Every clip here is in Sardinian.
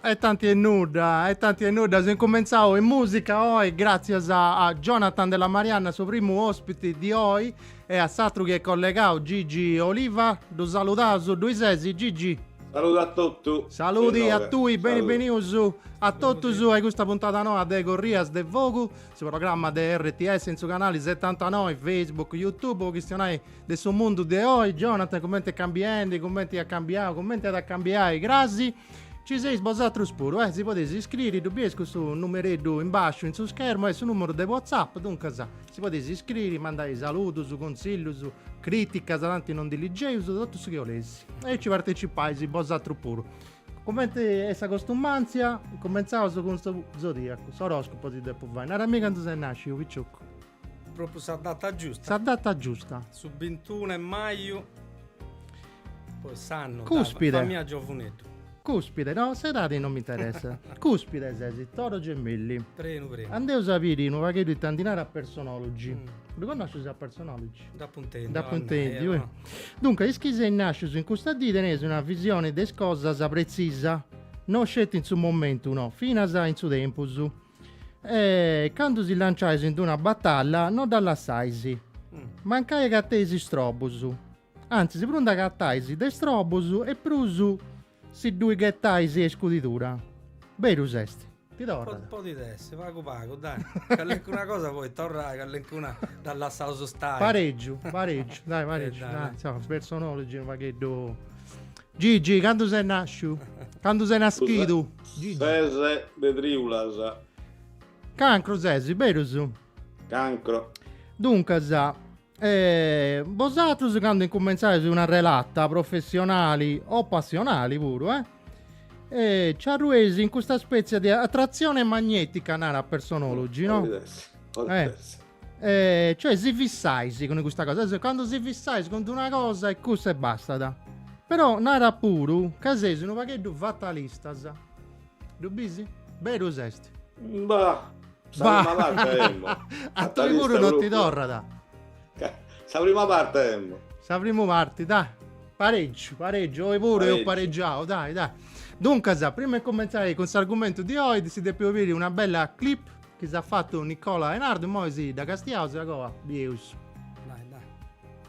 E tanti e nudda, e tanti e nudda, seus incumentzau in musica oi, gratzias a Jonathan Della Marianna, su primu ospiti di oi, e a s'atru chi est collegau, Gigi Oliva, ddu saludaus, ddui sesi Gigi? Salude a totus. Saludi a tui, beni benius a totus a custa puntada noa de Corrias de Fogu. Su programma de RTS in su canali setantanoi, Facebook, Youtube, po chistionai de su mundu de oi, Jonathan, cumenti est cambiendi, cumenti at cambiau, cumenti at a cambiai crasi. Ci seis bosatrus puru, eh, si podeis iscriri, ddu bieis custu numereddu in basciu in su schermu, est su numeru de WhatsApp, duncas si podeis iscriri, mandai saludus, consillus, criticas, tanti non ndi ligeius, totu su chi 'oleis. E aici partecippais bosatrus puru. Cumenti est sa costumàntzia, cumentzaus cun su zodìacu, s'oròscopu si depu fai. Narami candu ses nàsciu, picioccu. Propriu sa data giusta. Sa data giusta. Su bintunu 'e maju, poi s'annu. Cùspide. Fa mia giovuneddu. Cùspide, no, s'edadi non m'interessat. Cùspide ses, Toro Gemelli. Prenu prenu. Andeus a biri unu pagheddu ita ndi narat Personology. Ddu connoscis a Personology? Nd'apo intendiu. Nd'apo intendiu. Eh. Duncas, is chi seis nàscius in custa dì teneis una visione de is cosas pretzisa, no sceti in su momentu, no, finas in su tempus. E candu si lanciais in d'una batalla no dda lassais. Mm. Mancai acateis istrobus. Antzis, prus nd'acatais de istrobus e prus Si ddui ghetais a iscudidura. Berus est. Ti torrat. Podit essi, pagu pagu, dai, callincuna cosa podit torrai, callincuna dda lassaus stai. Paregiu, paregiu, dai, paregiu, dai, insoma, Personology unu pagheddu. Gigi, candu ses nasciu? Candu ses naschidu? Gigi. Ses de triulas. Cancru ses, berus? Cancro. Duncas. Bosatrus candu incumentzais una relata professionali o passionali puru, eh? E ci arrueis in custa spètzia de atratzione magnetica, narat Personology, no? Podit essi, podit eh. essi. Eh, cioè si fissais cun custa cosa, quando si fissais cun una cosa e cussa e bastat. Però narat puru ca seis unu pagheddu fatalistas. Ddu bisi? Berus est. Bah! Sa Bah! prima parte emmo. A tui puru non ti torrat. Sa prima parte emmo. Sa prima parti, dai. Pareggiu, pareggiu, oi puru eus Pareggiu. pareggiau, dai, dai. Duncas, prima 'e cumentzai cun s'argumentu di oi, si depu fai biri una bella clip chi s'at fatu Nicola Enardu, immoi si dda castiaus e a goa bieus. Dai, dai.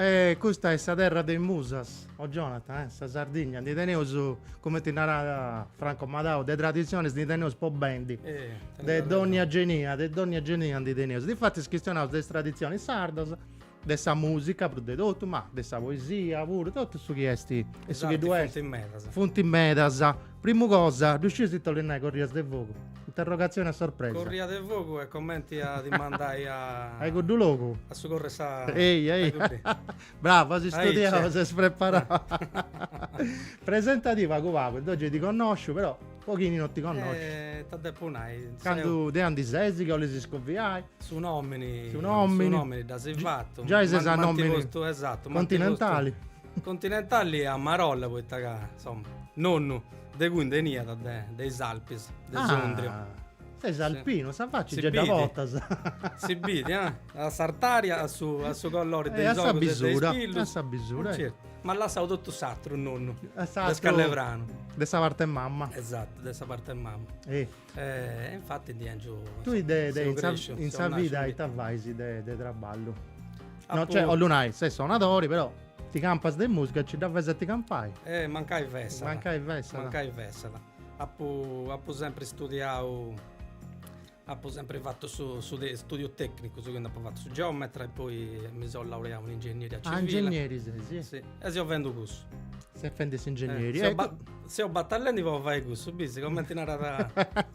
E custa est sa terra de is musas, o Jonathan, eh, sa Sardigna, ndi teneus, cumenti narat Franco Madau, de traditzionis ndi teneus po bendi, de dònnia genia, de dònnia genia ndi teneus. Difatis chistionaus de is traditzionis sardas de sa musica prus de totu, ma de sa poesia puru, totu su chi est e su chi ddu est. Funt medas. Funt medas. Primu cosa, ddu scius ita 'olit nai corrias de fogu? Interrogatzioni a sorpresa. Corria de fogu est comenti a ti mandai a. A cuddu logu. A su corru 'e sa. Ehi, ehi. Bravu, as istudiau, ses preparau. Presentadì pagu pagu, deu gei ti connosciu però. Po chini no ti connoscit. Eh, 'ta depu nai. Candu de andi sesi chi 'olis iscoviai. Su nomini. Su nomini. Su nomini dd'asi fatu. Giai ses a nomini. M'anti postu, esattu. Continentali. Continentali a marolla, poita ca, insomma, nonnu de cui nd'eniat de, de is Alpis, de ah. Sondrio. Ses alpino, sa facci sì gei dda portas. Si bidi, eh? A s'artaria, a su, a su collori de eh, is ogus e de is pillus. A sa bisura, a sa bisura. Eh. Certu. M'at lassau totu s'atru nonnu, de Scalepranu. De sa parte 'e mamma. Esattu, de sa parte 'e mamma. E infatti ndi anciu. Tui in sa vida ita fais de de traballu? No, cioè, 'ollu nai, ses sonadori, però ti campas de musica, nci dda fais a ti campai? Eh, mancai fessat. Mancai fessat. Mancai fessat. Apu apu sempri studiau Apo sempri fatu su su studiu tecnicu, quindi apo fatu su geometra e poi mi seu laureau in ingegneria civile. Ah, ingegneri ses, sì. Sì, e seu fendi cussu. Ses fendi s'ingegneri. Eh, ecco. Seu batallendi po fai cussu, bisi, comenti narat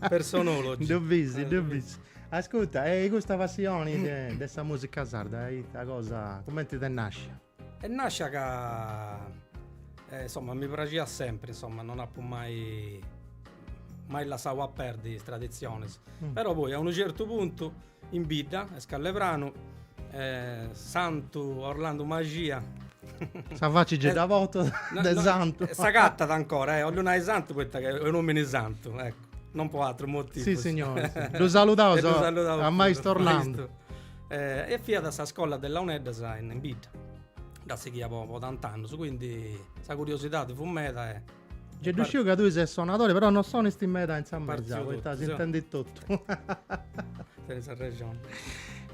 personologi. Ddu bisi, ddu bisi. Ascurta, e custa passioni de sa musica sarda, ita cosa, comenti t'est nascia? Est nascia ca insomma mi praxiat sempri insomma non apu mai mai lassau a perdi is traditzionis, però poi a unu certu puntu in bidda a Scalepranu santu Orlandu Maxia Sa faci gei dda portat de santu. S'agatat ancora, 'ollu nai santu poita ca est un omini santu Non po atru motivu. Sissignori. Ddu saludaus. Ddu saludaus. A maistu Orlandu. Eh, e fiat sa scola de Launeddas in bidda. Dd'at sighia po, po tant'annus, quindi sa curiosidadi fut meda e... Già ddu sciu ca tui ses sonadori, però non sonisti meda in sa mesa, poita s'intendit totu. Tenis arrexoni.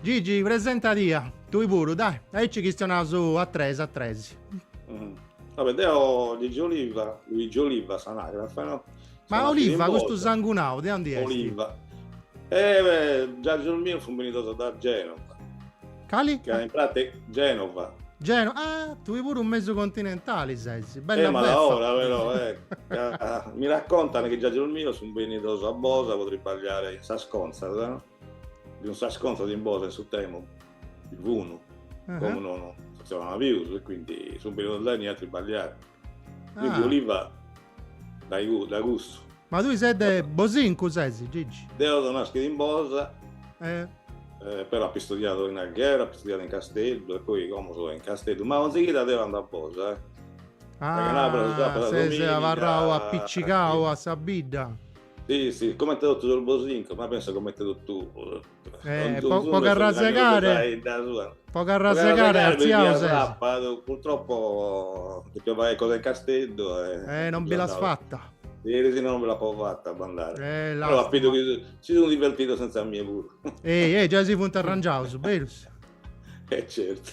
Gigi, presentadì, tui puru, dai. Aici chistionaus a tres, a tres. Va bene, deo Gigi Oliva, Luigi Oliva a s'anagrafe, no? Ma Oliva, custu sangunau, de undi est? Oliva. Eh, giagios mios sunt benidos da Genova. Cali? Ca in pratica, Genova. Geno, ah, tui puru mesu continentali ses, bell'ora eh, ma beffa. ora però, eh, ca mi raccontan chi giagios mios sunt benidos a Bosa po tribagliare in sas contzas, no? Bi funi sas contzas in Bosa in su Temo, bi funi, uh -huh. como non funtzionana pius, e quindi sunt benidos inie a tribagliare. Quindi Oliva dae cussu. Ma tui ses Bosincu, Bosincu ses Gigi? Deo so naschidu in Bosa. E. Però apo istudiadu in Alghero, apo istudiadu in Casteddu e poi como so in Casteddu, ma 'onzi chida deo ando a Bosa. Ah ses abarrau apicigau a sa bidda. Si si comente totu sos Bosincos, ma penso comente totu. Eh, po, po carrasegare po carrasegare arziaus sapadu purtroppo depia fai cosa in Casteddu e eh non bi l'as fatta Ieri si non bi l'apo fatta a andare. Eh, la Però apo idu chi si sunt divertidos senza mia pure. Ehi, ehi, già si funt arrangiaus, berus. Eh certo.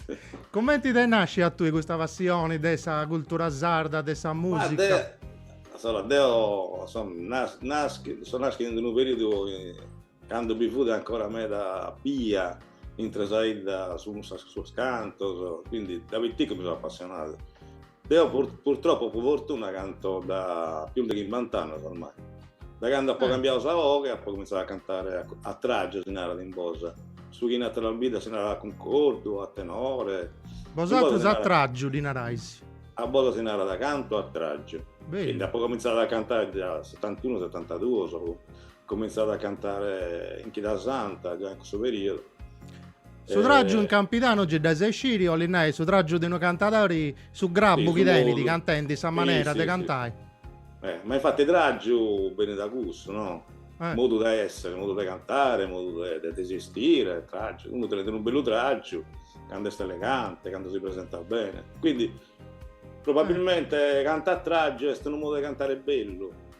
Commenti ti nascit a tui custa passioni de sa cultura sarda, de sa musica? Ma de... Allora, deo sono nas... naschi... sono naschidu in unu periodu Cando bi fut ancora meda bia intre sa 'idda sos, sos cantos, quindi da piticu mi so appassionadu. Deo purtroppo po fortuna canto da pius de chimbant'annos ormai. Da cando apo cambiadu sa 'oghe apo comintzadu a cantare a tragiu si narat in Bosa, su chi in ateras biddas si narat a cuncordu, a tenore. Bosatrus a tragiu ddi narais? A Bosa si narat cantu a tragiu. Beni. Quindi apo comintzadu a cantare già a setant'unu, setantaduos. Comintzadu a cantare in chida santa, già in cussu periodu. Su tràgiu in Campidanu gei dd'as a isciri, 'olit nai, su tràgiu de unu cantadori, su grabu chi tenit cantendi, sa manera de cantai. Eh, ma infatti tràgiu benit da cussu, no? Eh. Modu de essere, modu de cantare, modu de, de, de esistire, tràgiu. Unu tenet unu bellu tràgiu cando est elegante, cando si presentat bene. Quindi, probabilmente, cantare a tràgiu est unu modu de cantare bellu.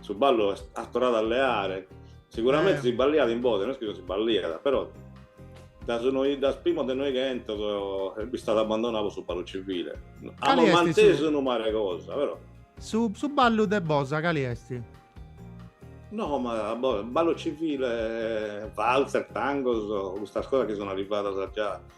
su ballu est, at torradu a leare, siguramente eh. si balliat in Bosa, no est chi non si balliat, però dae su noi, dae sos primos de noighentos eh, est istadu abbandonadu po su ballu civile. Amos mantesu su... unu mare 'e cosa, però. Su, su ballu de Bosa, cali est? No, ma ballu civile, valzer, tangos, custas cosas chi sunu arrivadas già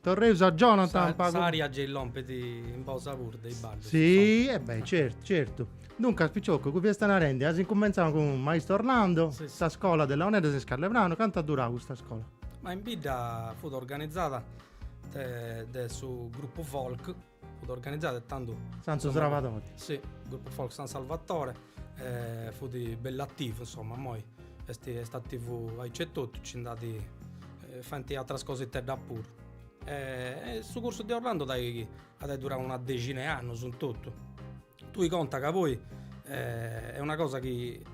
Torreus a Jonathan. Sa, s'aria gei lompet in Bosa puru de is ballus. Si, e beh, certu, certu. Duncas, piciocu, tui fiasta narendi, as incumentzau cun maistu Orlando, si, si. sa scola de launeddas in Scalepranu, cantu at durau custa scola? Ma in bidda fut organizada de, de su gruppu folk. Fut organizadu tandu. Santu Srabadori. Si, gruppo folk San Salvatore, e fut bell'ativu insomma, moi est ativu aici e totu, ci nd'at faint atras cositeddas puru. E su cursu de Orlando at ai durau una dexina 'e annus in totu. Tui conta ca poi est una cosa chi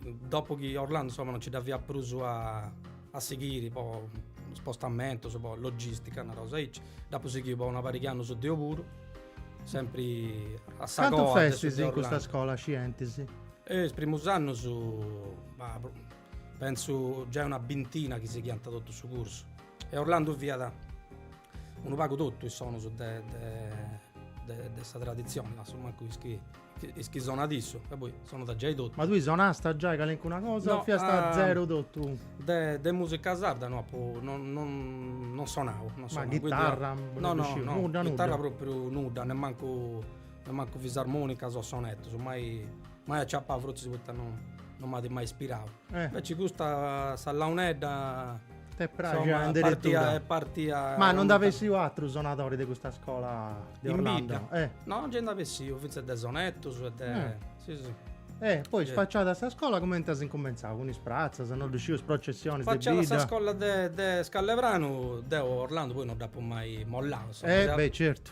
Dopu chi Orlando insomma non ci dda fiat prus a a sighiri po spostamentos, po logistica, nareus aici, dd'apu sighiu po una pariga 'e annus deu puru, sempri a sa coa de su de Orlando. Cantu festis in custa scola scientis? Eh is primus annus, ma pentzu giai una bintina chi sighiant totu su cursu e Orlando fiat unu pagu totu is sonus de de de sa traditzioni, assumancu Is chi sonat issu, ca poi sonat giai totu. Ma tui sonasta giai calincuna cosa, o fiasta a zero totu? De, de musica sarda no apu, no apu sonau. No sonau. Ma chitarra? Quindi, no, no, no, nudda, chitarra nudda. propriu nudda, nemancu, nemancu fisarmonicas o sonetus, mai, mai aciapau, frotzis poita no, no m'at mai ispirau. Inveci custa sa launedda T'est praxia in deretura? Est partia... Ma non nd'at bessiu atru sonadori de custa scola de Orlando? In bidda? Eh. No, nci nd'at bessiu, fintzas de sonetus e de... Eh. Si, si. Eh, poi spaciada sa scola cumenti est incumentzau, cun is pratzas, no ddu sciu, is processionis de bidda? Spaciada sa scola de Scalepranu, deu Orlando poi no dd'apu mai mollau, insoma. Eh, beh, certu.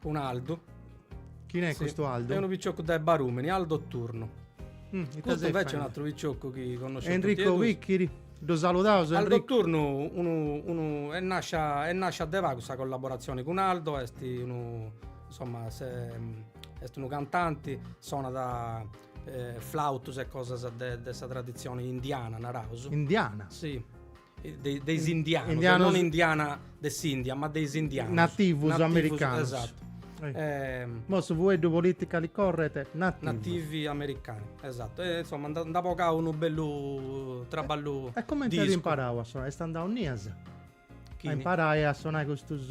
Cun Aldu. Chine est custu Aldu? Est unu picioccu de Barumini, Aldo Turnu. Mm, ita ses faende? Custu invece est un'atru picioccu chi connosceus totu e duus. Enrico Picchiri, ddu saludaus Enrico. Aldo Turnu unu, unu est nascia, est nascia de pagu sa collaboratzioni cun Aldo, est unu, insomma, se, est unu cantanti, sonat flautus e cosas de de sa traditzioni indiana, naraus. Indiana? Si. de, de is indianos, indianos, non indiana de s'India, ma de is indianos. Nativus, nativus americanos. Esatto. Eh. Eh, Mo su fueddu politically corret nativi. Nativi americani, esatto. E, insomma, nd'at bogau unu bellu traballu E, e comenti at imparau a sonai? Est andau innias a imparai a sonai custus...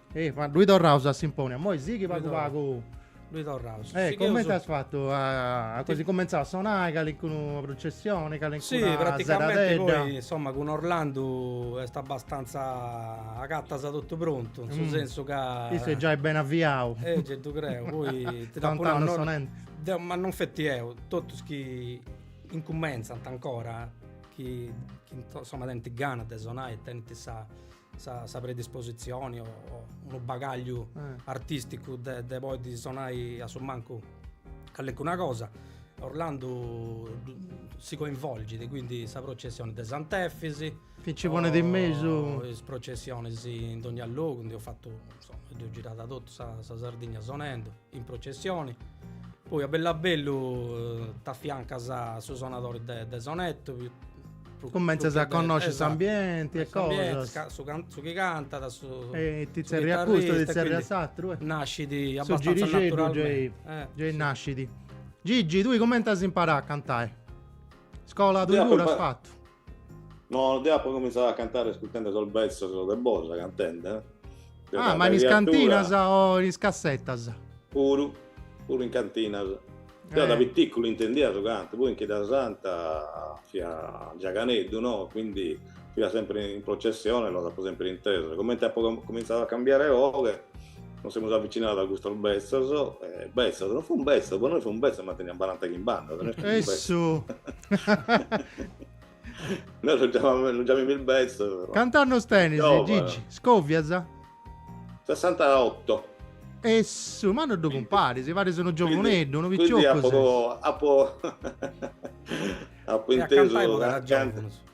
E ma luegu torraus a Simponi, a moi sighi pagu pagu. Luegu torraus. E comente as fatu, as incumentzau a sonai calincuna prucessioni, calincuna seradedda? Sì, praticamenti poi, insomma, cun Orlandu est abastanza agatas totu prontu, in su sensu ca. Issu est giai beni avviau. E gei ddu creu, poi ti dd'apu nau. Tant'annus sonendu. Deu, ma non feti deu, totus chi incumentzant ancora, chi insomma tenint gana de sonai e tenint sa. sa predisposizioni o unu bagagliu artisticu de podi sonai a su mancu callencuna cosa Orlandu si coinvolgit, quindi sa processioni de Sant'Efisi chi nci ponit in mesu o is processionis in dogna logu ndi apu fatu insoma apu girau totu sa Sardigna sonendu in processione poi a bellu a bellu t'affiancas a su sonadori de, de sonetto cumenzas a connosci esatto, s'ambienti e cosas ca, su, can, su chi cantat su, e ti zerri a custu ti zerri a s'atteru e nascidi su girixeddu abbastanza naturalmente eh, gei sì. nascidi. Gigi tui cumenti as imparau a cantai scola tui puru as fattu No, no deo apo comintzadu a cantare ascurtende sos betzos de Bosa cantende. Ah, ma in is cantinas o in is cassetas? Puru, puru in cantinas. Deo da eh. piticu intendia su cantu, poi in Chida Santa fia giaganeddu, no? Quindi fia sempre in processione, los apo sempre intesos. Comente apo comintzadu a cambiare 'oghe, Nos semus avvicinados a custos betzos, eh, betzos, non fun betzos, po noi fun betzos, ma tenian baranta chimbant'annos, no est chi fun betzos. Noi los chiamamus, los chiamimus betzos. Cantu annos tenis, Giovane. Gigi? Scovias? 68. Essu, ma non ddu cumparis, paris unu giovuneddu, unu Quindi piccioccu apo, ses. apo, apo E a cantai intesu, po ca- canta- giovunus.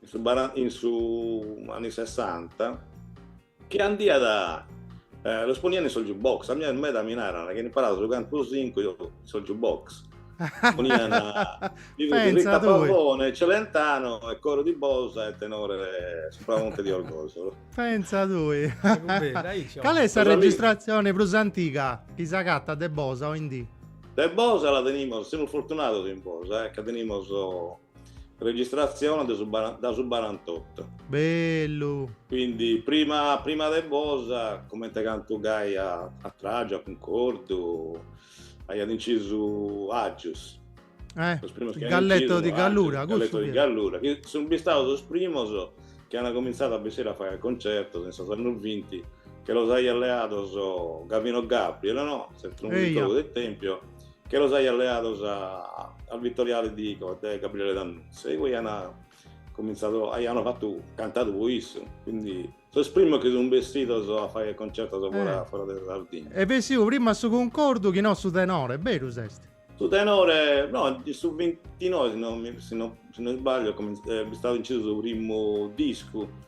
in su baran in su anni sessanta chi andiat eh, los ponian in sos jukebox a mie meda mi naran chi imparadu su cantu sincu in sos jukebox ponian li fut Pensa Rita tui. Pavone, Celentano e coro di Bosa e tenore Supramonte di Orgosolo Pensa tui. Cale est sa Sos ami- registratzione prus antiga chi s'agatat de Bosa oindì? De Bosa la tenimos, semus fortunados in Bosa eh, ca tenimos Registratzione de su da su barantotto. Bellu! Quindi prima, prima de Bosa, comente cantu gai a, a Tragiu, a Cuncordu, aiat incisu Aggius. Eh, Galletto di Gallura, Aggius, Galletto di Gallura, chi sun bistados sos primos chi an comintzadu a bessire a fare concertos in sos annos 20, chi los aiat leados Gavino Gabriel, no? S'etnomusicologu de Tempio. chi los aiat leados a al Vittoriale di de Gabriele D'Annunzio, igue ian comintzadu, aian fatu, cantadu po issu, quindi sos primos chi sun bessidos a fagher concertos fora, fora de Sardigna. Est bessiu prima su Cuncordu chi no su Tenore, berus est? Su Tenore, no, in su vintinoe si no mi, si no, si no isbaglio, cominz, est istadu incisu su primu discu,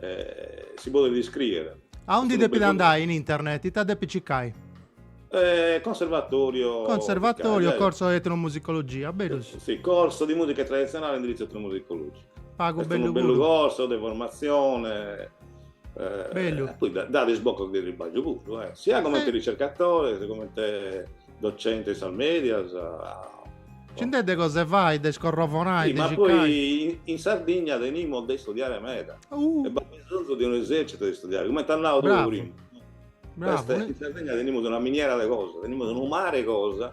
eh, si podet iscrìere. A undi depit andai in internet? Ita depit cicai? Eh, conservatorio... Conservatorio, cicai, corso de etnomusicologia, bellu. Eh, sì, corso di musica tradizionale indirizzo etnomusicologico. Pagu bellu. Est unu bellu corso de formazione... Eh, bellu. Poi dat isbocos de tribagliu puru, eh. Sia comente eh. ricercatore, comente... docente in sas medias. Ci nd'est de cosa de fai, de scorrovonai, sì, de cicai. Ma poi in, in Sardigna tenimus de istudiare meda. Uh. E b'at bisonzu de un esercito de istudiare, comente as nau tue prima. Bravo. in Sardigna tenimus una miniera de cosa, tenimus unu mare de cosa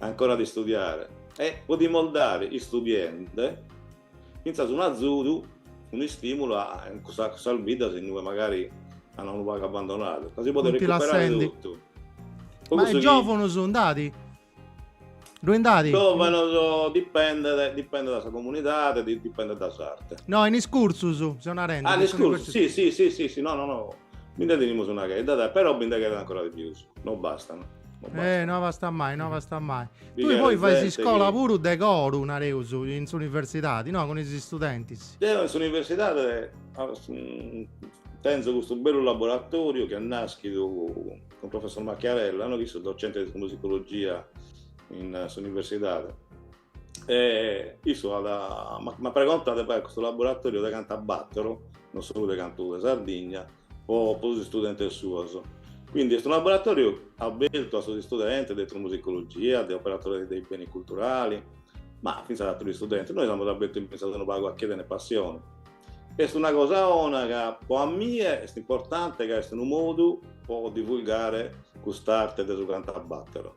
ancora de istudiare. E podimus dare istudiende Fintzas unu azudu, unu istimulu a cussas biddas in ue magari an unu pagu abbandonadu, ca si podit recuperare totu. Ma e giòvunus ndi at? Ddui ndi at? Giòvunus dipendet, dipendet dae sa comunidade, dipendet dae s'arte. No, in is cursus seu narendi. Ah, in is cursus, si, si, si, si, si, no, no, no, bi nde tenimus una chedda, però bi nde cheret ancora de pius, no bastant. Eh, no abbastat mai, no abbastat mai. Tui poi fais iscola chi... puru de coru, nareus, in s'universidadi, no? Cun is studentis. Deu in s'universidadi mm, tenzu custu bellu laboratoriu chi est naschidu cun professor Macchiarella, no? Chi issu docente de musicologia in s'universidadi. E issu at, m'at pregontadu de fai custu laboratòriu de cantu a bàtoro, non solu de cantu de Sardigna, po po is istudentes suos. Quindi est unu laboratòriu abertu a sos istudentes de etnomusicologia, de operatore dei beni culturali, ma fintzas a aterus istudentes. Nois amus abertu infintzas unu pagu a chie tenet passione. Est una cosa 'ona ca po a mie est importante ca est unu modu po divulgare cust'arte de su cantu a bàtoro.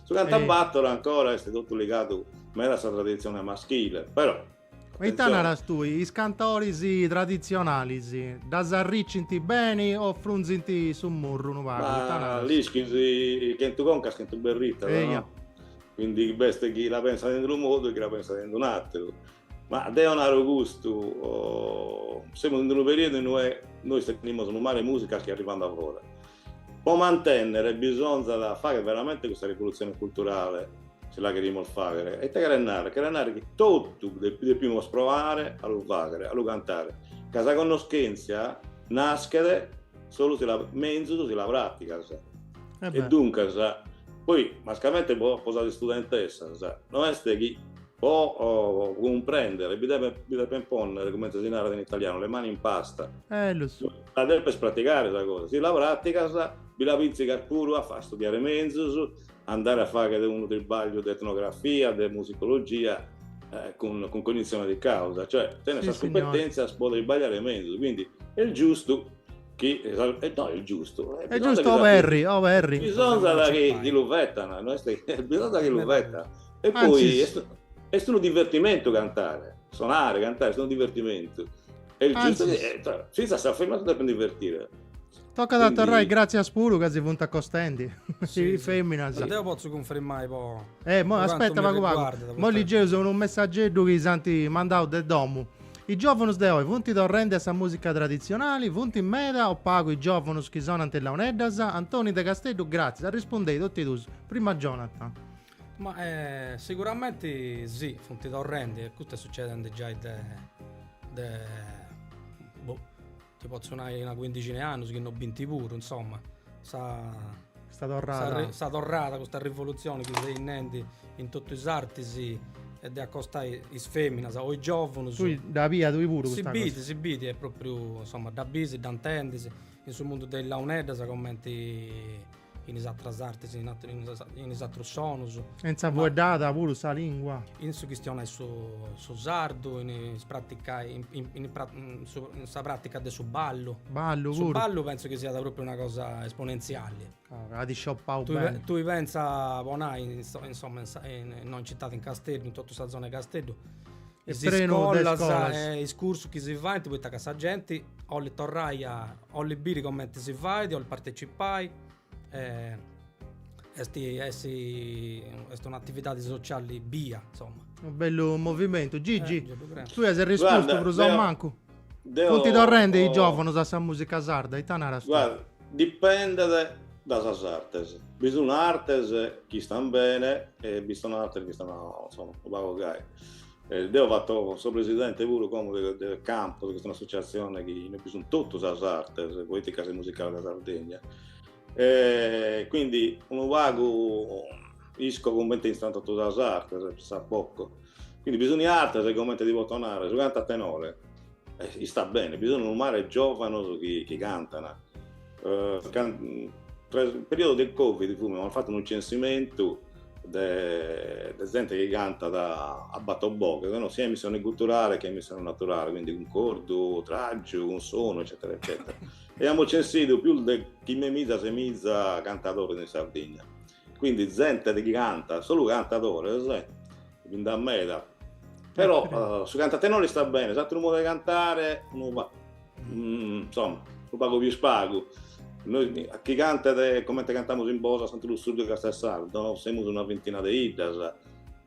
Su cantu a bàtoro ancora est totu ligadu meda a sa traditzione maschile, però. E ita naras tui, is cantoris traditzionalis ddas arricint beni o frunzint su murru unu pagu, ita naras? Ma l'ischis, chentu concas chentu berritas, no? Eia. Quindi b'est chi la pensat in unu modu e chi la pensat in un'ateru. Ma deo naro custu, semus in unu periodu in ue nois tenimus unu mare 'e musicas chi arrivant dae fora. Po mantènnere bisonzat fàghere veramente custa rivolutzione culturale, si la cherimus fàghere. E ite cheret nàrrere? Cheret nàrrere chi totu depimus proare a lu fàghere, a lu cantare, ca sa connoschèntzia naschet solu si la, menzus si la pràtigas. E duncas, poi mascamente po sas istudentessas, no est chi Po cumprèndere bi depent pònnere, comente si narat in italianu, le mani in pasta. Eh, lo so. La depes pratigare sa cosa. Si la pràtigas, bi la pìntzigas puru a studiare menzus, a andare a fàghere unu tribagliu de etnografia, de musicologia, cun cognizione di causa. Cioè, tenes sas cumpetèntzias pro tribagliare menzus. Quindi, est giustu chi, no est giustu, bisonzat chi lu fetana, no est chi, bisonzat chi lu fetana. E poi est, est unu divertimentu cantare, sonare, cantare, est unu divertimentu. Est giustu chi, eh, cioè, finza sa femina si depet divertire. Toccat a torrai grazias puru ca si funt accostendi. Sì, sì. Feminas, sì. Deo pozzo confermare po. Eh, mo aspetta pagu pagu. Moi liggeus unu messaggeddu chi s'ant mandau de domu. Is giovunus de oi funt torrendi a sa musica tradizionali? Funt meda o pagu is giovunus chi sonant is launeddas? Antoni de Casteddu, grazias. Arrispundei tot'e duus. Prima Jonathan. Ma siguramenti si, funt torrendi e custu est sucedendi giai de de boh ti potzu nai una cuindixina 'e annus, chi no binti puru, insoma, sa Custa torrada sa torrada, custa rivolutzioni chi seis nendi in totu is artis e de acostai is feminas o is giovunus. Tui dda bias tui puru custa cosa? Si bit, si bit, est propriu, insoma, dda bisi, dda intendis in su mundu de is launeddas commenti in is atras artis, in is atrus sonus. In sa fueddada puru, sa lingua. In su chistionai su sardu, in is praticai, in sa pratica de su ballu. Ballu puru. Su ballu pentzu chi siat propriu una cosa esponentziali. At isciopau beni. Tui pentza po nai, insoma, innoi in citadi, in Casteddu, in totu sa zona 'e Casteddu, is iscolas e is cursus chi si faint poita ca sa genti 'olit torrai a 'Olit biri comenti si fait, 'olit partecipai, est est un'atividadi sociali bia, insoma. Unu bellu movimentu. Gigi, tui as arrispostu prus o mancu. Deu. Funt torrendi is giovunus a sa musica sarda, ita naras tui? Guarda, dipendet da sas artes. Bi sun artes chi istan bene e bi sun artes chi istan, insoma, unu pagu gai. Deo fatto so presidente puru como de Campos chi est un'associazione chi in ue bi sun totu sas artes poeticas e musicales de Sardegna e quindi unu pagu isco comente istan totu sas artes pressapoco quindi bi sun artes e comente ti poto nare su cantu a tenore istat bene bi sun unu mare 'e giovanos chi cantan Tra su periodu de Covid amus fatu unu censimentu de zente chi cantat a bator boghes, no, sia in emissione guturale che in emissione naturale, quindi cuncordu, tragiu, cunsonu eccetera eccetera e amus censidu pius de chimbe miza, ses miza cantadores in Sardigna. quindi zente chi canta, solu cantadores, bi nd'at meda, però uh, su cantu a tenore istat bene, s'atteru modo de cantare, no, mm, insomma, unu pagu pius pagu. Noi, chi cantet, comente cantamus in Bosa, Santu Lussurgiu e Castelsardo, semus una vintina de iddas,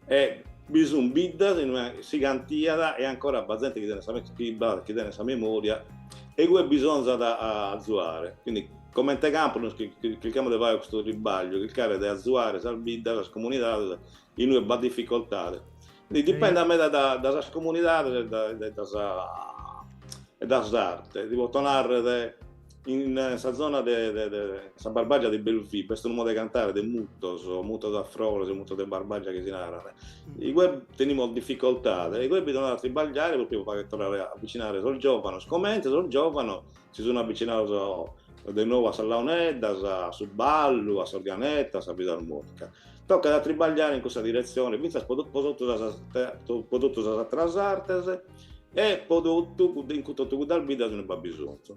E bi sun biddas in ue si cantiat e ancora b'at zente chi tenet sa chi b'at chi tenet sa memoria e igue bisonzat a azuare, quindi comente campu nos chircamus de fagher custu tribagliu, chircare de azuare sas biddas, sas comunidades in ue b'at difficoltade, quindi dipendet meda da da sas comunidades e da e da sa e da s'arte, ti poto narrer In sa zona de sa Barbagia de Belvì b'est unu modu de cantare de mutos, mutos a frores e mutos de Barbagia chi si naran, igue tenimus dificoltade, igue bisonzat a tribagliare propriu po fagher torrare a avvicinare sos giovanos, comente sos giovanos si sun avvicinados de nou a sas launeddas, a su ballu, a s'organetta, a sa fisarmonica. Toccat a tribagliare in cussa diretzione fintzas po po totu sas po totu sas atteras artes e po totu cudda in totu cuddas biddas in ue b'at bisonzu.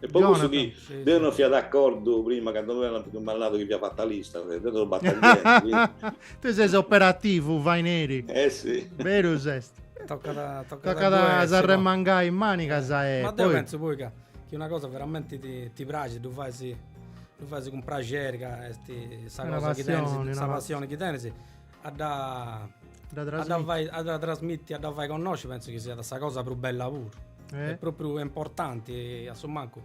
E po cussu chi deu non fia d'accordu prima cando mi ant cumandadu chi fia fatalista, deu so battaglieri. Tui ses operativu, faineri. Eh si. Berus est. Tocat tocat a s'arremangai is manigas e poi. Ma deu pentzu poi ca chi una cosa veramenti ti praxit ddu fais ddu fais cun praxeri ca est sa cosa chi tenis, sa passioni chi tenis a dda a dda trasmitti a dda fai connosci pentzu chi siat sa cosa prus bella puru eh? est propriu importanti a su mancu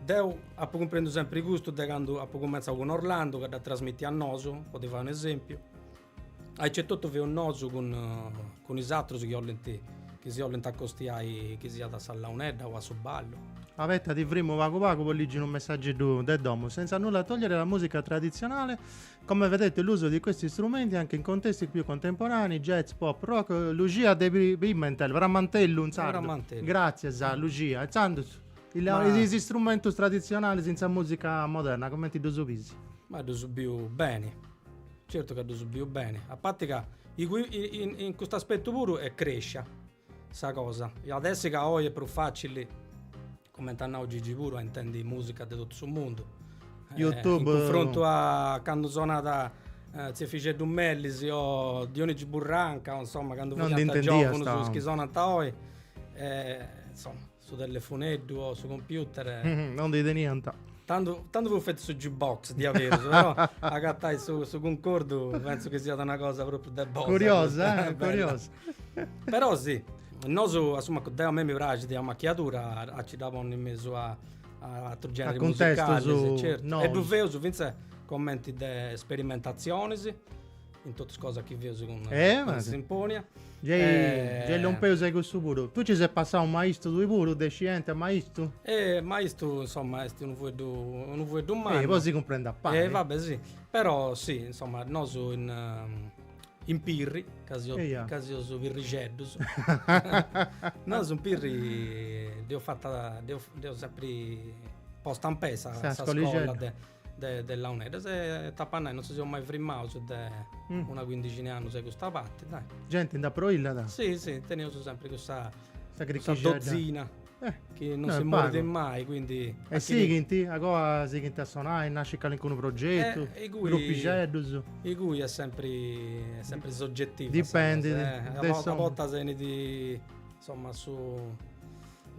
deu apu cumprendu sempri de aici de candu apu cumentzau cun Orlandu ca dd'at trasmìtiu a nosu po ti fai un'esempiu aicetotu feus nosu cun is atrus chi olint chi si olint acostiai chi siat a sa launedda o a su ballu. Abetta ti frimu pagu pagu po ligi unu messageddu de domu senza nulla togliere alla musica tradizionale Come vedete l'uso di questi strumenti anche in contesti più contemporanei, jazz, pop, rock, eh, Lucia De Pri- Pimentel, Pramantellu in sardu. Pramantellu. Grazias Lucia. Inzandus, il- Ma- is istrumentus traditzionalis in sa musica moderna comenti ddus biis? Ma ddus biu beni, certu ca ddus biu beni, a parti ca i- i- in cust'aspettu puru est crescia. Sa cosa at a essi ca oi est prus facili, comente at nau Gigi puru, a intendi musica de totu su mundu, in cunfrontu a candu sonàt tziu Efixeddu Melis o Dionigi Burranca o insoma candu fiant giovunus is chi sonant oi, insoma. Su telefoneddu o su computer. non ndi teniant. Tandu, tandu fut fetu su jukebox diaberus, però agatai su, su cuncordu penso chi siat una cosa propriu de box. Curiosa, eh? curiosa. però si, nosu, insoma, deu a mei mi praxit sa macchiadura a ci dda ponni in mesu a, a atrus generis musicalis. Certu. Nosu. E ddu feus fintzas commenti de sperimentazionis. in totu is cosas chi feus cun eh, ma... Sinfonia. Gei, eh... gei lompeus a custu puru. Tui ci ses passau maistu tui puru, de scienti a maistu? Eh, maistu, insomma, est unu fueddu, unu fueddu mannu. Eh, po si cumprendi a pari. Eh, vabbè, sì. Però, sì, insomma, nosu in... Ehm, in Pirri, ca si yeah. ca seus pirrixeddus. nosu in Pirri deu fatzu, deu, deu sempri posta in pei sa, sa scola de de de launeddas e t'apo a nai non si seus mai frimaus de una cuindixina 'e annus a custa parti dai. Genti nd'at po illada? Si si teneus sempri cussa dozina chi non si morit mai quindi. E sighint? A goa sighint a sonai, nascit calincunu progetu, grupixeddus? Igue est sempri est sempri soggetiva sa cosa, a bortas 'enit insomma su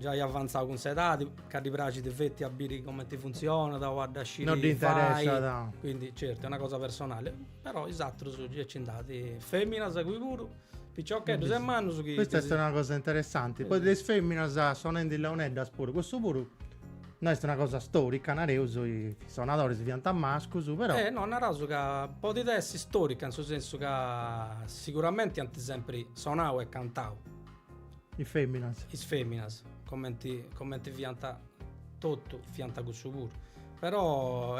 Giai avantzau cun s'edadi, ca ddi praxit feti a biri comenti funtzionat o a dda sciri fai. No ddi interessat. Quindi, certu, est una cosa personali. Però is atrus gei nci nd'at, feminas ingui puru, piciocheddus e mannus chi. Custa est una cosa interessanti, poi de is feminas sonendi leoneddas puru, custu puru no est una cosa storica, nareus, is sonadoris fiant mascus, però. Eh no, naraus ca podit essi storica in su sensu ca siguramenti ant sempri sonau e cantau. Is feminas. Is feminas, comenti comenti fiant totu, fiant cussu puru. Però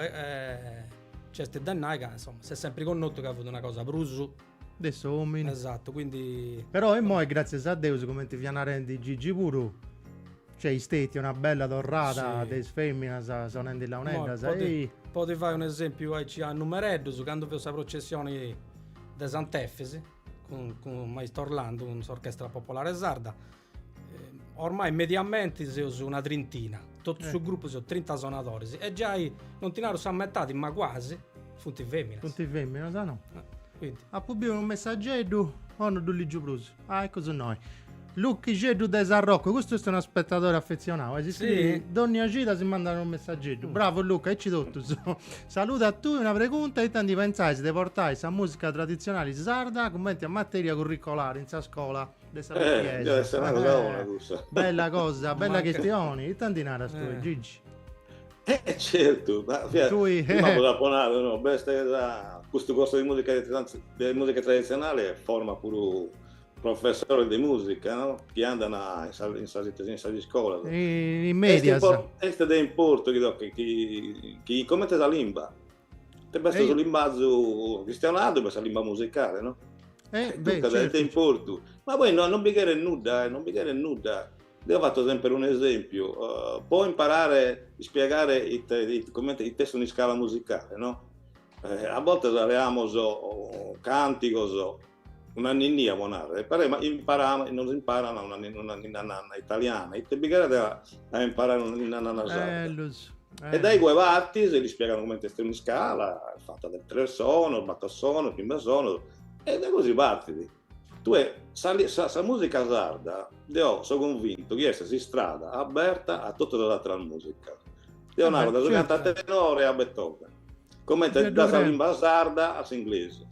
nc'est de nai ca insoma s'est sempri connotu ca fut una cosa prus. De s'omini. Esatu, quindi. Però imoi gratzias a Deus cumenti fia narendi Gigi puru nc'est stetia una bella torrada de is feminas sonendi launeddas. Po ti fai un'esempiu aici a numereddus, candu feus sa processioni de Sant'Efis. cun, cun maistu Orlando, cun s'Orchestra Popolare Sarda, eh, ormai mediamente seus una trintina, totu eh. su gruppu seus 30 sonadoris e giai non ti naru sa metadi, ma quasi, funt feminas. Funt feminas, ah no. Eh, quindi. Apu biu unu messageddu, no ddu ligiu prus. Ah, eccu innoi. Luchixeddu de Sarroccu, custu est unu spetadore affezionau, si scrit dònnia cida si mandat unu messageddu. Bravu Luca, aici totus. Saludu a tui, una pregunta, ita ndi pentzais de portai sa musica traditzionali sarda cumenti a materia curricolare in sa scola de sa pitiesa? Bella cosa, bella chistioni, ita ndi naras tui Gigi? Eh certu, prima dd'apu nau no, b'est custu corso de musica traditzionali formas puru Professores de musica no? chi andant in sas in sas ite si in sas iscolas. In, in medias. Est, impor, est de importu chi, chi, chi, chi comente sa limba. b'est su limbazu chistionadu b'est sa limba musicale, no? Eh, beh, certo. Duncas est de importu. Ma poi no, non bi cheret nudda, eh, non bi cheret nudda. Deo fatto sempre un esempiu, uh, po imparare, spiegare ite, ite, comente, ite est un'iscala musicale, no? Eh, a bortas leamos cantigos, Una ninnia po narrer, però imparama, nos imparan una ninna nanna italiana, ite bi cheret a imparare una ninna nanna sarda. E dae igue partis e l'ispiegan comente est un'iscala, est fata dae tres sonos, bator sonos, chimbe sonos, e dae gosi partit. Tue sa musica sarda, deo so convintu chi est s'istrada aberta a totu sas atteras musicas. Deo naro da su cantatenore a Beethoven, comente da sa limba sarda a s'inglese.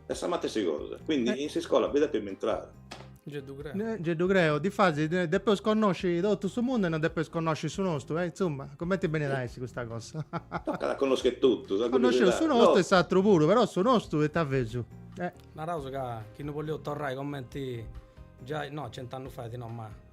Est sa matessi cosa, quindi in s'iscola bi depet intrare. Nce ddu creo. Nce ddu creo, difatis depeus connosci totu su mundu e non depeus connosci su nostu, e insumma, cumenti benit a essi custa cosa? Tocat a connosci totu, sa curiosidadi. Connosci su nostu e s'atru puru, però su nostu est a fesu? Naraus ca chi no bolleus torrai cumenti giai, no, cent'annus fait no, ma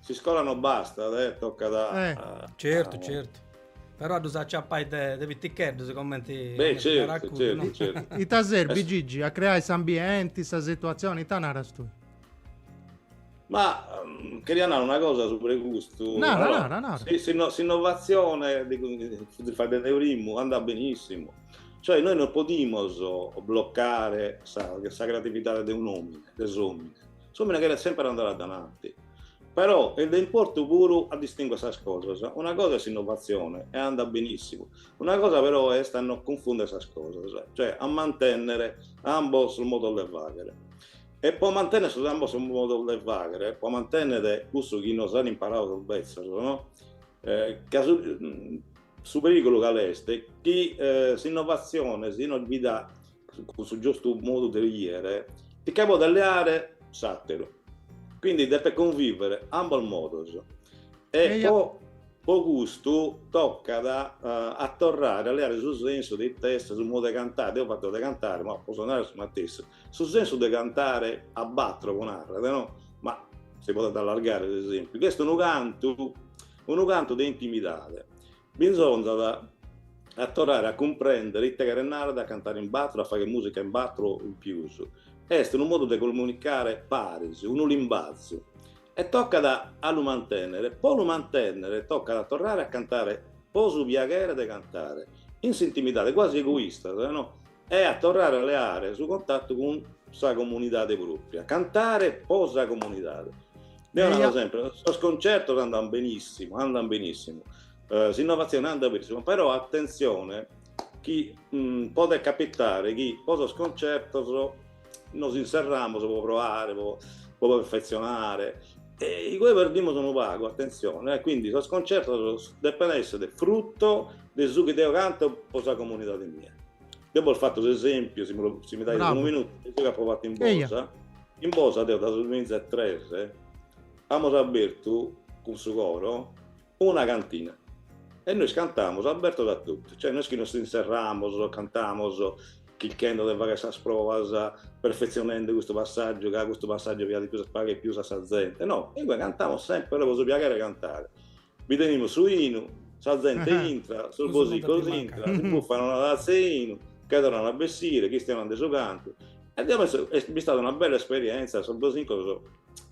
S'iscola non bastat, eh, tocat a... Eh, a, certu, a... certu. Però a dus acciappai de, de piticheddus, commenti... Beh, certu, certu, no? certu. Ita serbi, es... Gigi, a creai s'ambienti, sa situazioni, ita naras tui? Ma um, queria narrare una cosa su pregusto. No, allora, no, no, no. Si, si, no, s'innovazione di, di fare del ritmo andrà benissimo. Cioè noi non possiamo bloccare sa, sa creatività di un uomo, dell'uomo. S'omine cheret semper andare a dananti, però est de importu puru a distinguere sas cosas, una cosa est s'innovatzione e andat benissimu, una cosa però est a no cunfundere sas cosas, cioè a mantennere ambos sos modos de faghere. E pro mantennere sos ambos sos modos de faghere, pro mantennere cussu chi nos an imparadu sos bezzos, no? Ca su Su perìgulu cale est? Chi s'innovatzione, si non bi dat cun su giustu modu de 'iere, si che podet leare s'àteru. Quindi depet convìvere ambos modos. E po po custu tocat a torrare a leare su sensu de ite est su modu de cantare, deo fatto de cantare, ma potzo narrer su matessi, su sensu de cantare a batoro, pro narrer no, ma si podet allargare s'esempiu, chi est unu cantu Unu cantu de intimidade. Bisonzat a torrare a cumprèndere ite cheret nàrrere a cantare in batru, a fagher mùsica in batru o in pius. Est unu modu de comunicare paris, unu limbazu. E tocat a lu mantènnere. Po lu mantènnere tocat a torrare a cantare po su piaghere de cantare, in s'intimidade, quasi egoistas, no? e a torrare a leare su contatu cun sa comunidade pròpria, cantare po sa comunidade. Deo naro sempre, sos concertos andant benìssimu, andant benìssimu, s'innovatzione andat benìssimu, però atentzione chi podet capitare chi po sos concertos Nos inserramos po proare, po perfetzionare e inie perdimus unu pagu, atentzione, e quindi sos concertos depent esser frutto de su chi deo canto po sa comunidade mia. Deo bos fatto s'esempiu, si mi dais unu minutu, de su chi apo fatto in Bosa, in Bosa deo dae su duamiza e tres amos abertu cun su coro Una cantina e nois cantamus abertos a totu, cioè no est chi nos inserramus, cantamus chirchende de fagher sas provas, perfetzionende custu passàgiu, ca custu passàgiu piaghet pius, piaghet pius a sa zente, no, inie cantamus semper pro su piaghere 'e cantare, bi tenimus su 'inu, sa zente intrat, sos bosincos intrant, si buffan una tazza 'e 'inu, che torrant a bessire, chistionant de su cantu, e deo penso est bistada una bella esperienza, sos bosincos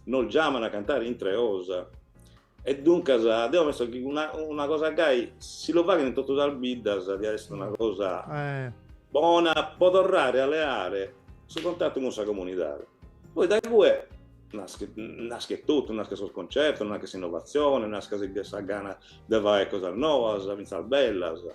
nos giaman a cantare intre 'osa, E duncas deo penso chi una, una cosa gai, si lu faghent in totu sas biddas, diat esser una cosa bona po torrare a leare su contatu cun sa comunidade. Poi dae cue naschet, naschet totu, naschet sos concertos, naschet s'innovatzione, naschet sa gana de fagher cosas noas, fintzas bellas.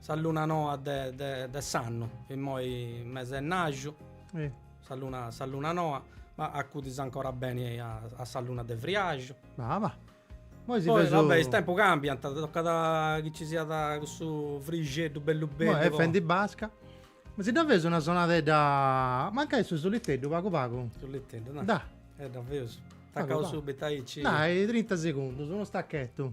Sa luna noa de s'annu, immoi mese 'e maju, sa luna noa, ma acudis ancora beni a sa luna de friaxu. Poi va bè, is tempus cambiat, tocat chi ci siat cussu frixeddu bellu bellu. Est fendi basca. Ma si dda feus una sonadedda, mancai su suliteddu pagu pagu. Suliteddu, dai. Dai. E dda feus. Tacaus subitu aici. Dai, trinta segundus, unu stachettu.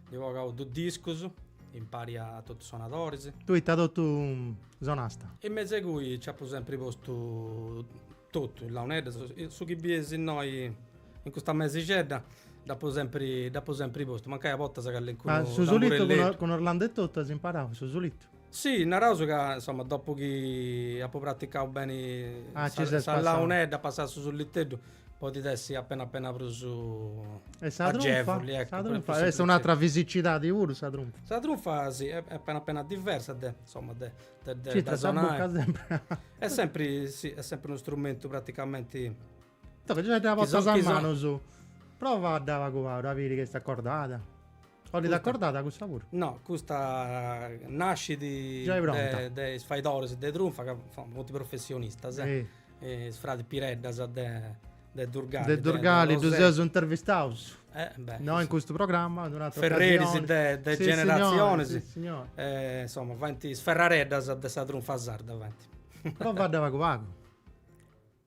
Nd'eus bogau dus discus, impari a totus sonadoris. Tui dd'as totu sonasta. In mesu 'e cui nci apu sempri postu totu, is launeddas, su chi bies innoi in custa mesixedda, dd'apu sempri, dd'apu sempri postu, mancai a bortas calincunu tamburelletu. Ma su sulitu cun Orlando e totu as imparau su sulitu? Si, naraus ca insoma dopu chi apu praticau beni sa launedda, passai a su sulliteddu, podit essi apena apena prus agevuli. Ecco, est un'atra fisicidadi puru sa trunfa? Sa trunfa si, est apena apena diversa de, insoma de sonai. Circa sa bucca sempri. Est sempri, si, est sempri unu strumentu praticamenti. Toca già dda portas a manus. Provadda pagu a biri chi est acordada. Ollit acordada custa puru. No, custa nascidi de de is faidoris de trunfa ca funt professionistas. Is fradis Piredda de de Durgali. De Durgali ddu seus intervistaus. Eh beh. No in custu programma, in un'atera ocasioni. Ferreris de de generatzionis. Si signori, si signori. Insoma, faint is ferrareddas de sa trunfa sarda faint. Provadda pagu pagu.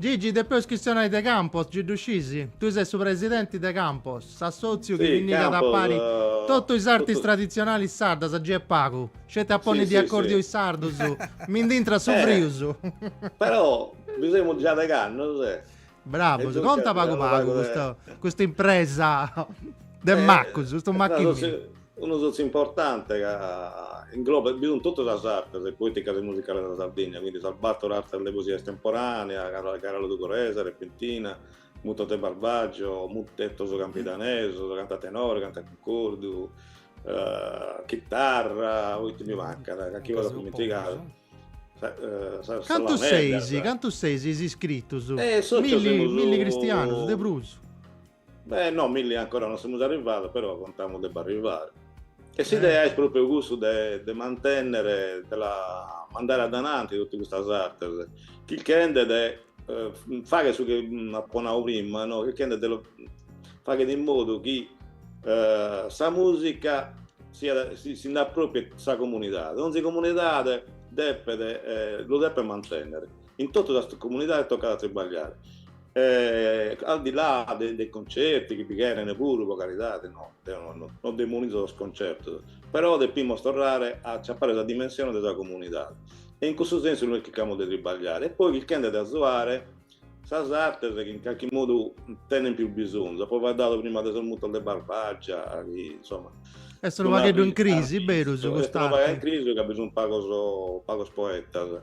Gigi, depeus chistionai de Campos, gi ddu scisi? Tui ses su presidenti de Campos, s'assòtziu chi pinnigat a pari totu is artis traditzionalis sardas, gi est pagu, sceti a ponni de acòrdiu is sardus, mi ndi intrat su frius. Però, ddu semus già de candus. Bravus, conta pagu pagu custa impresa de macus, custu machini. Unu sòtziu importante ca inglobat bi sunt totu sas artes poeticas e musicales de sa Sardigna, quindi sas bator artes de poesia estemporanea, gara logudoresa, repentina, mutos de Barbagia, mutetos campidanesos, cantu a tenore, cantu a cuncordu, chitarra, ite mi mancat, calchi cosa apo dimentigadu. Cantus seis, cantus seis is iscritus? Milli, milli cristianos, de prus. Beh no, milli ancora non semus arrivados, però contamus de b'arrivare. E s'idea est pròpiu cussu de de mantènnere, de la mandare addananti totu custas artes, chirchende de faghere su chi apo nau prima no, chirchende de faghere in modu chi sa mùsica siat, si nd'apropriet sa comunidade, donzi comunidade depet, lu depet mantènnere In totu sas comunidades tocat a tribagliare e al di là de de concerti chi bi cheren puru po caridade, no, deo no no no demonizo sos concertos, però depimus torrare a aciapare sa dimensione de sa comunidade e in cussu sensu nois chircamus de tribagliare e poi chirchende de azuare sas artes chi in carchi modu tenen pius bisonzu, apo faeddadu prima de sos mutos de Barbagia chi insomma est unu pagheddu in crisi, berus, cust'arte. Est unu pagu in crisi ca bi sun pagos pagos poetas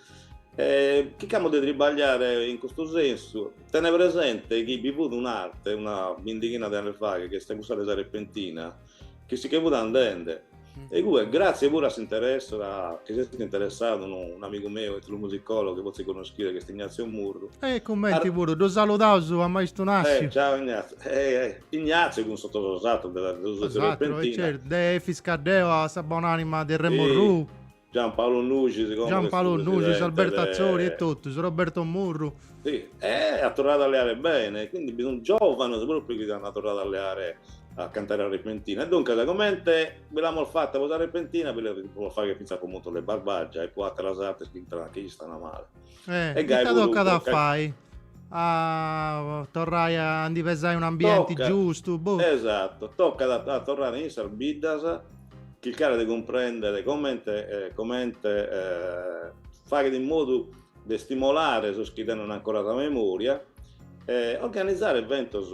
E chircamus de tribagliare in custu sensu, tene presente chi bi fut un'arte, una bindighina de annos faghe, chi est cussa de sa repentina, chi si che fut andende, e igue, gratzie puru a s'interessu, chi s'est interessadu unu un'amigu meu, etnomusicologu, chi fortzis connoschides, chi est Ignazio Murru. E cumenti puru, ddu saludaus a maistu Nassiu. E ciao Ignazio. Ignazio cun totus sos atrus de sa repentina. Is atrus, e certu, de Efis Caddeo a sa bonanima de Remo Orrù. Gian Paolo Nuscis, como Gian Paolo Nuscis, Alberto Atzori e totus, Roberto Murru. Sì, e at torradu a leare bene, quindi bi sunt giòvanos pròpriu chi ant torradu a leare, a cantare a repentina. E duncas, comente bi l'amus fata po sa repentina, bi la podis fagher fintzas po mutos de Barbagia e po àteras artes chi istant, chi istant male. Eh, e ita tocat a fai? A torrai a ndi pesai un ambienti giustu? Boh. Esatu, tocat a, a torrare in sas biddas, chircare de cumprendere comente, comente faghere in modu de stimolare sos chi tenent ancora sa memoria e organizare eventos,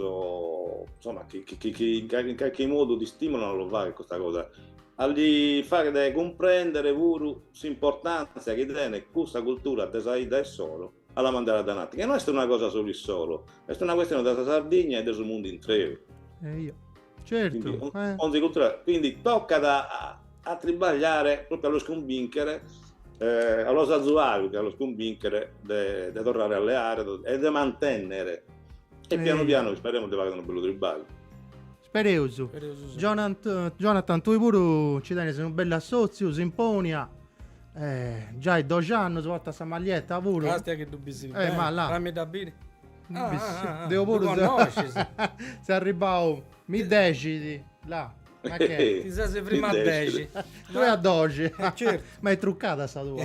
insomma, chi, chi, chi in carchi modu t'istimolant a lu faghere custa cosa, a li faghere cumprendere puru s'importàntzia chi tenet custa cultura de sa 'idda issoro a la mandare a dananti, chi no est una cosa solu issoro, est una cuestione de sa Sardigna e de su mundu intreu. Eja, certu, eh! Onzi cultura, quindi tocat a a tribagliare propriu a los cumbìnchere, a los azuare pius che a los cumbìnchere de de torrare a leare e de mantènnere e pianu pianu isperemus de faghere unu bellu tribagliu. Spereus. Spereus si. Jonant, Jonathan, tui puru nci tenis unu bellu assòtziu, s'imponia. Eh, giai doxi annus, portas sa maglietta puru. Astia chi ddu bissis beni. Eh, ma là. Fammi dda biri. Ah, ah, ah, ah. Deu puru. Ddu connoscis. Seu arribau, mi dexit, là. Ma che. Ti ses frimmau a dexi. Tui a doxi. Eh, certu. Ma est trucada sa tua.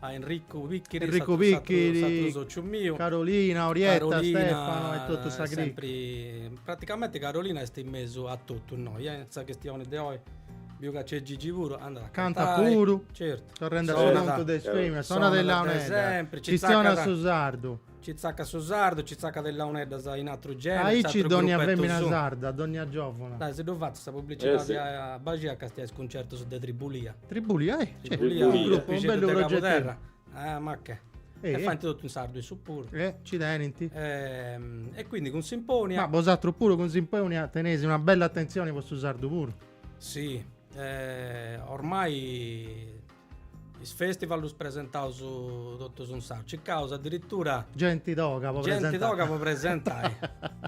a Enricu Picchiri, Enricu Picchiri s'atru sociu miu, Carolina, Orietta, Carolina, Stefano e totu sa cricca. Praticamenti Carolina est in mesu a totu innoi, eh, in sa chistioni de oi biu ca nc'est Gigi puru, andat a cantai, cantat puru, certu, torrendi a su contu de is feminas, sonat is launeddas, chistionat su sardu. Ci tzacat su sardu, ci tzacat is launeddas in atru genere. Aici dònnia fèmina sarda, dònnia giòvuna. Dai, si ddu fatzu sa publicidadi a baxi a castiai is cuncertus de Tribulia. Tribulia, eh! Tribulia, u' grupixeddu de Cabuderra. Eh, ma che. E faint totu in sardu issus puru. Eh, ci tenint. E quindi cun Simponia. Ma bosatrus puru cun Simponia teneis una bella attenzioni po su sardu puru. Si, ormai Is festival ddus presentaus totus in sardu. Cicaus adiritura. Genti toga po presentai. Genti toga po presentai.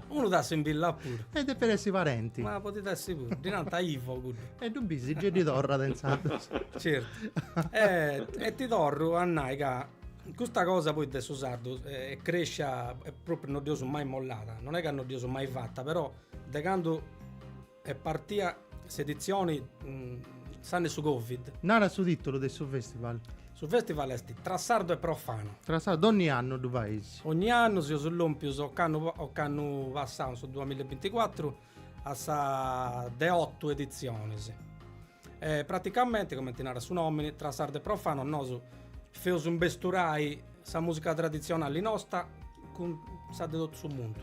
Unu t'assimbillat puru. E depit essi parenti. Ma podit essi puru. Ddi nant Ivo cuddu. E ddu bis gei ddi torrat intzandus. Certu. E ti torru a nai ca custa cosa poi de su sardu est crescia e propriu non dd'eus mai mollada. Non est ca non dd'eus mai fata, però de candu Est partia s'editzioni s'annu 'e su Covid. Nara su tìtulu de su festival. Su festival est tra sardu e profanu. Tra sardu, ogni annu ddu faeis? Ogni annu, seus lòmpius ocannu passau su duamilla e binticuatru a sa de otu editzionis. E praticamenti, comenti narat su nomini, tra sardu e profanu nosu feus imbesturai sa musica traditzionali nosta cun sa de totu su mundu.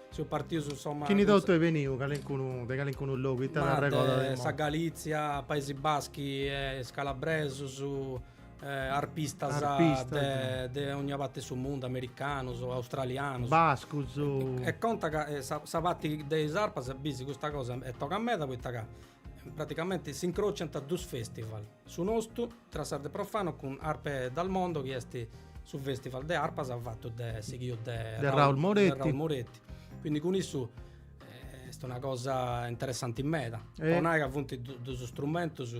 Seus partius insomma. Chini totu est beniu calincunu de calincunu logu ita Ma arregodat de sa Galitzia, Paesi Baschi e is calabresus, arpistas de de ogna pati de su mundu, americanus, australianus. Bascus. E conta ca sa pati de is arpas bisi custa cosa est toga meda poita ca Praticamenti s'incrociant dus festival, su nostu Tra Sardu e Profanu cun Arpe dal Mondo chi est su festival de arpas fatu de sighiu de Raul Moretti, quindi cun issu est una cosa interessanti meda, po nai ca funt dus strumentus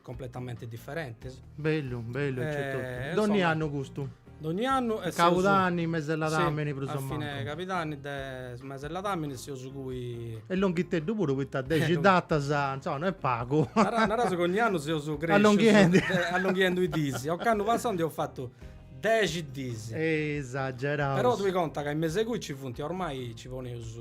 Completamente differentes. Bellu, bellu ecceto. Donni annu custu? Donni annu est Cabudanni, Mesi 'e ladàmini prus o mancu. A fine 'e Cabudanni de su Mesi 'e ladàmini seus cui. E longhiteddu puru poita dexi datas, insoma, no est pagu. Naraus ca ogni annu seus crescius. Allonghendi. Allonghiendi is dis. Occannu passau ndi eus fatu dexi dis. Esageraus. Però tui conta ca in mesu 'e cui ci funt, ormai ci poneus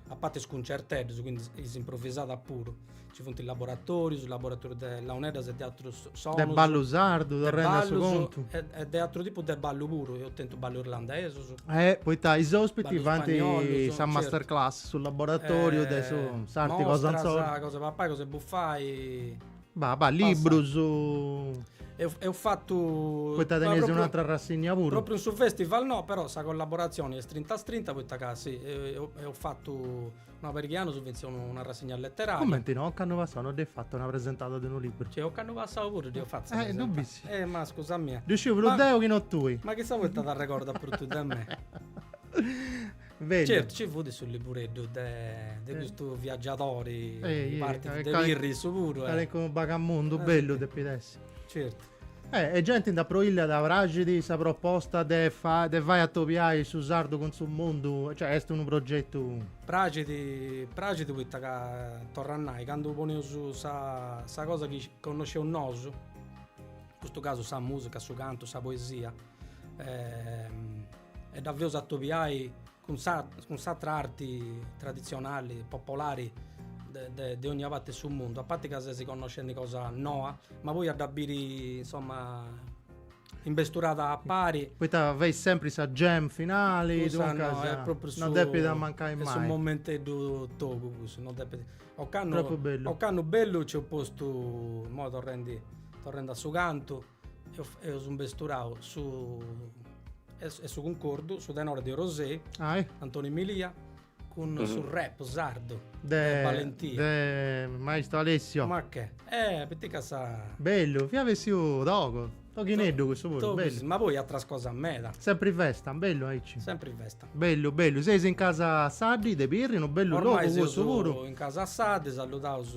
a parti is cuncerteddus, quindi is improvisadas puru. Ci funt laboratorius, laboratorius de launeddas e de atrus sonus. De ballu sardu, torrendi a su contu. E de atru tipu de ballu puru, eus tentu ballu irlandesu. Eh, poita is ospitis fant sa master class, su laboratoriu de su s'arti cosa insoru. Mostras, cosa de papai, cosa de bufai. Bah, bah, librus. Eus fatu. Poita teneis un'atra rassigna puru. Propriu in su festival no, però sa collaboratzioni est strinta a strinta, poita ca si, eus fatu Ma po chi amus fintzas una rassigna letteraria. Cumenti no, ocannu passau no dd'eis fattu una presentada de unu libru. Cioè, ocannu passau puru dd'eus fatta. Eh, ddu bis. Eh, ma scusa mia. Ddu sciu prus deu chi no tui. Ma chissà poita t'arregordas prus tui de mei? Bellu. Certu, ci fut su libureddu de, de custu viaggiadori, partit de Pirri issu puru. Calincunu bagamundu bellu depit essi. Certu. E e genti nd'at prolliat praxit sa proposta de fa de fai atobiai su sardu cun su mundu, cioè est unu progetu. Praxit praxit poita ca torru a nai candu poneus sa sa cosa chi connosceus nosu, in custu casu sa musica, su cantu, sa poesia e dda feus atobiai cun sa cun s'atra arti traditzionali, popolari de de de ogna parti 'e su mundu, a parti ca ses connoscendi cosa noa, ma poi a dda biri insomma imbesturada a pari. Poita fait sempri sa jam finali, duncas non depit mancai mai. Est propriu su momenteddu togu cussu, non depit. Ocannu, ocannu bellu nci eus postu, imoi torrendi torrendi a su cantu Eus imbesturau su e su cuncordu, su tenore de Orosei, Antoni Milia, cun su rap sardu de Valentia. De maistu Alessio. Ma che. Eh, poita ca sa. Bellu, fiat bessiu togu, toghineddu cussu puru. Ma poi atras cosas meda. Sempri festa, bellu aici. Sempri festa. Bellu bellu, seis in Casa Saddi de Pirri, unu bellu logu cussu puru. Ormai seus in Casa Saddi, saludaus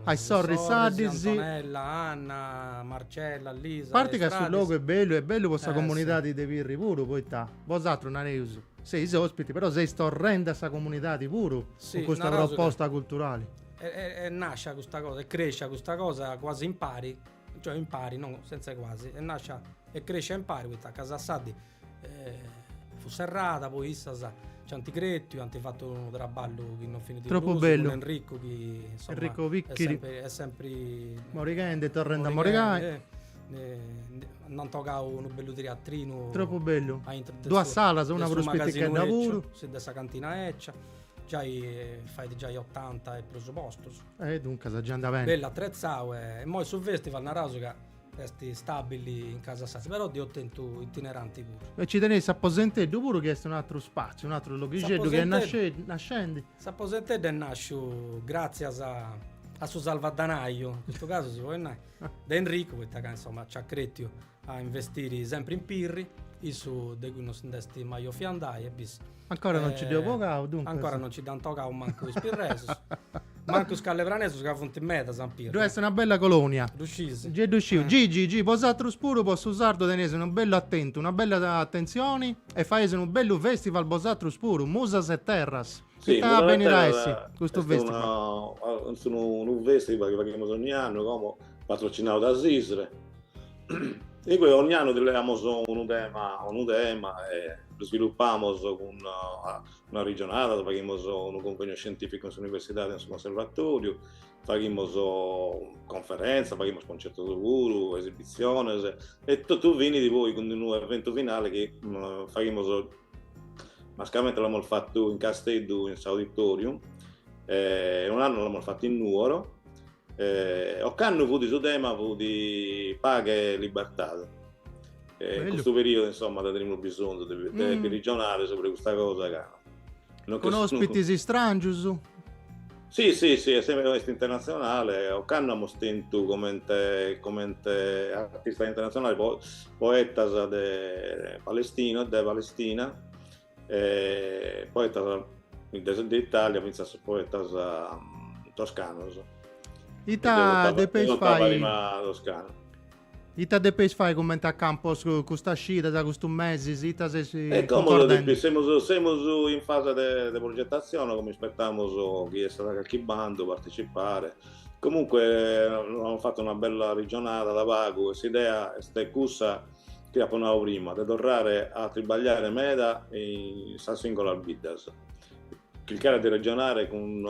a is sorris Saddi, Antonella, Anna, Marcella, Lisa. A parti ca su logu est bellu, est bellu po sa comunidadi de Pirri puru, poita bosatrus nareus seis ospitis, però seis torrendi a sa comunidadi puru cun custa proposta culturali. Est nascia custa cosa, est crescia custa cosa cuasi impari, cioè impari no, senz'e cuasi, est nascia e crescia impari poita Casa Saddi fut serrada poi issas ci ant cretiu ant fatu unu traballu chi non finit prus cun Enricu chi insomma est sempri morighendi e torrendi a morigai ndi ant bogau unu bellu teatrinu tropu bellu duas salas una prus pitichedda puru de sa cantina 'ecia giai fait giai otanta e prus postus e duncas giai andà beni bellu atretzau e imoi su festival naraus ca Est stabili in Casa Saddi, però dd'eus tentu itineranti puru. E ci teneis s'aposenteddu puru chi est un'atru spatziu, un'atru loghixeddu chi est nascendi. S'aposenteddu est nàsciu gràtzias a a su salvadanàiu, in custu casu si podit nai, de Enricu, poita ca insoma ci at cretiu a investiri sempri in Pirri, issu de cui non si nd'est mai 'ofiu andai e bis Ancora non ci dd'eus bogau, duncas. Ancora non ci dd'ant bogau mancu is pirresus. Mancu is scalepranesus ca funt medas in Pirri. Ddu est una bella colonia. Ddu scis? Gei ddu sciu. Gigi, Gigi, bosatrus puru po su sardu teneis unu bellu atentu, una bella atentzioni e faeis unu bellu festival bosatrus puru, Musas e Terras. Si. Ita benit a essi custu festival? Est unu festival chi faghimus 'onnia annu, como patrocinau da s'ISRE. Igue ogn'annu ti leamus unu tema, unu tema e lu svilupamus cun una arrigionada, faghimus unu convegnu scientificu in s'universidade o in su conservatoriu, faghimus conferenzas, faghimus concertos puru, esibitzionis e totu finit poi cun unu eventu finale chi faghimus, mascamenti l'amus fatu in Casteddu in s'auditorium e un'annu l'amus fatu in Nuoro Ocannu fut su tema fut paghe e libertade e in custu periodu insomma nde tenimus bisonzu de bi rigionare subra custa cosa ca Cun ospitis istràngius? Si si si est est internatzionale ocannu amus tentu comente comente artistas internatzionales po poetas de Palestina de Palestina e poetas de Italia fintzas poetas mm, toscanos. Ita depeis fai? Toscano. Ita depeis fai comente a Campos custas cidas, custus mesis, ita seis E como semus, semus in fase de, de progettazione, como ispettamus chi essat calchi bandu partecipare. Comunque amus fattu una bella regionada da pagu e s'idea est cussa chi apo nau prima, de torrare a tribagliare meda in sas singolas biddas, chircare de regionare cun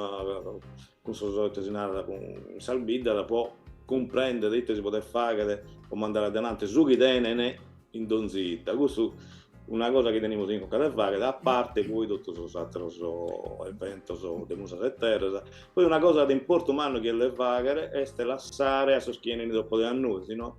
cun sos, ite si narat, cun sas biddas po cumprender ite si podet fagher po mandare adelante su chi tenen in donzi 'idda, custu est una cosa chi tenimus in conca de fagher, a parte poi totu sos atteros eventos de musas e terras, poi una cosa de importu mannu chi est de fagher est lassare a sos chi 'enin dopo de a nois no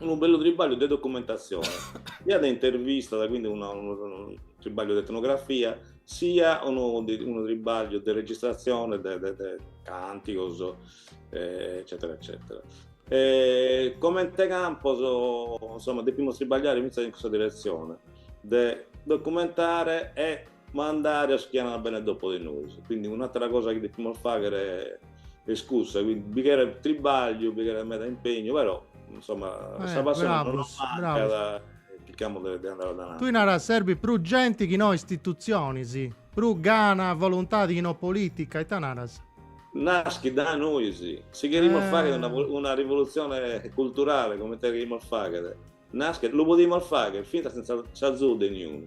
unu bellu tribagliu de documentatzione, sia de intervistas, quindi una, unu tribagliu de etnografia, sia unu, unu tribagliu de registratzione de, de, de cantigos, eh, eccetera, eccetera. E, comente Campos, insomma, depimus tribagliare fintzas in custa direzione, de documentare e mandare a sos chi ant a benner dopo de nois, quindi un'atera cosa chi depimus faghere est cussa, quindi bi cheret tribagliu, bi cheret meda impegnu, però insomma sa passione non nos mancat e chircamus de de andare avanti. Tui naras serbit prus genti chi no istitutzionis, prus gana, voluntadi chi no politica, ita naras? Naschit dae nois, si cherimus faghere una una rivolutzione culturale comente cherimus faghere, naschet, lu podimus faghere fintzas sentza s'azudu de niunu,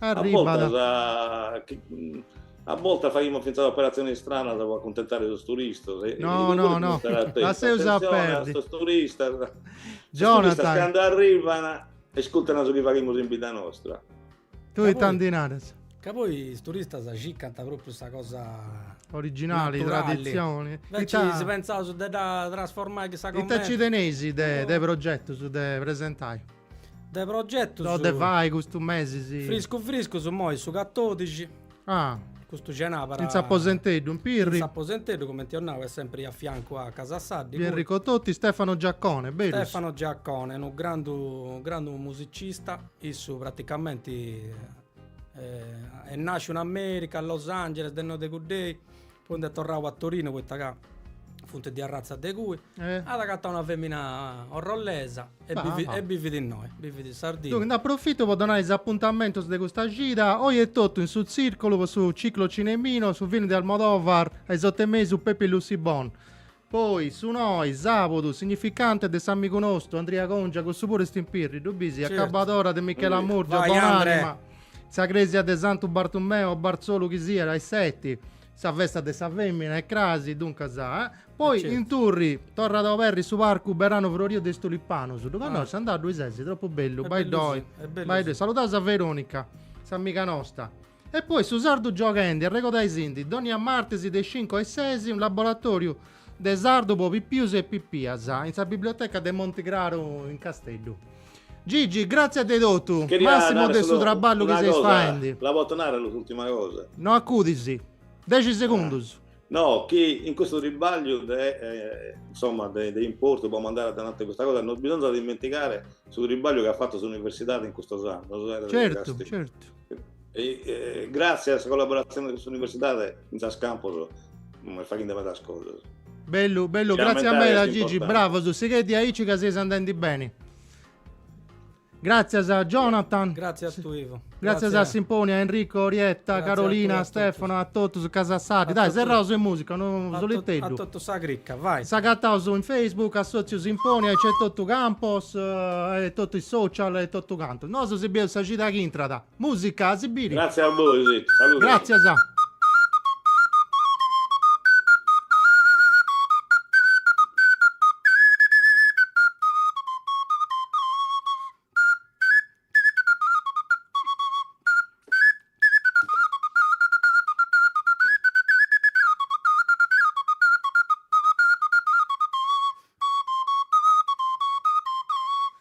Arribat. A bortas, a bortas faghimus fintzas operatziones istranas pro acuntentare sos turistas. No, no, no, lasseus a perdi, Jonathan. Sos turistas, sos turistas cando arrivan iscurtan su chi faghimus in bidda nostra. Tui ita ndi naras? Ca poi is turistas circant propriu sa cosa originali, traditzioni. Invece si pentzaus de dda trasformai chissà comente. Ita nci teneis de progetus de presentai? De progetus. Deu de fai custu mesi sì. Friscu friscu immoi su 14. Ah. Custu cenabara. In S'Aposenteddu, in Pirri. In S'Aposenteddu, comenti eo nau, est sempri a fiancu a Casa Saddi. Via Enrico Toti, Stefano Giaccone, berus. Stefano Giaccone, unu grandu, grandu musicista, issu praticamenti eh, est nasciu in America, a Los Angeles, de innoi de cuddei, Poi nd'est torrau a Torinu poita ca funt de arratza de cui, at agatau una femina orrollesa e bivit innoi, bivit in Sardinna. Duncas nd'aprofitu po donai is apuntamentus de custa cida, oi etotu in su Tzirculu po su Ciclo Cinemino, su film de Almodóvar a is otu e mesu Pepi, Luci, Bom. Poi su noi, sabudu, Significante de s'amigu nostu, Andria Congia, cussu puru est in Pirri, ddu bisi, Accabadora de Michela Murgia, bon'anima, in sa cresia de Santu Bartumeu o Barzolu chi siat, a is seti, sa festa de sa femina est crasi, duncas, eh. Poi in Turri, torrat a oberri su parcu Beranu Froriu de is tulipanus, ddu connoscis, andau ddui sesi, tropu bellu, bai ddoi, bai ddoi, saludaus a Veronica, s'amiga nosta. E poi su sardu giogendi e regodaisindi dònnia martis de is cincu a is ses unu laboratòriu de sardu po pipius e pipias in sa biblioteca de Monti Craru in Casteddu. Gigi, gràtzias de totu, màssimu de su traballu chi seis faendi. Cheria narrere solu una cosa, la poto narrere s'ùrtima cosa? No acudis, dexi segundus. No, chi in custu tribagliu de, insoma, de de importu, po mandare adelante custa cosa, non bisonzat imentigare su tribagliu chi at fatu s'universidadi in custus annus, Certu, certu. e gràtzias a sa collaboratzione cun s'Universidade in Campos semus faghende medas cosas. Bellu, bellu, gràtzias meda Gigi, bravos, sighei aici ca seis andendi beni. Gràtzias a Jonathan. Gràtzias a tie Ivo. Gràtzias a Simponia, Enrico, Orietta, Grazie Carolina, a Stefano, a totus ca seis medas. Dai, serraus in musica, unu soliteddu. A totu sa cricca, vai. S'agataus in Facebook, Assòtziu Simponia, e nc'est Sotziu Campos, eh, e totu is social e totu cantu. Nosu si bieus sa cida ch'intrat. Musica, a si biri. Grazie a bois, saludos. Gràtzias a.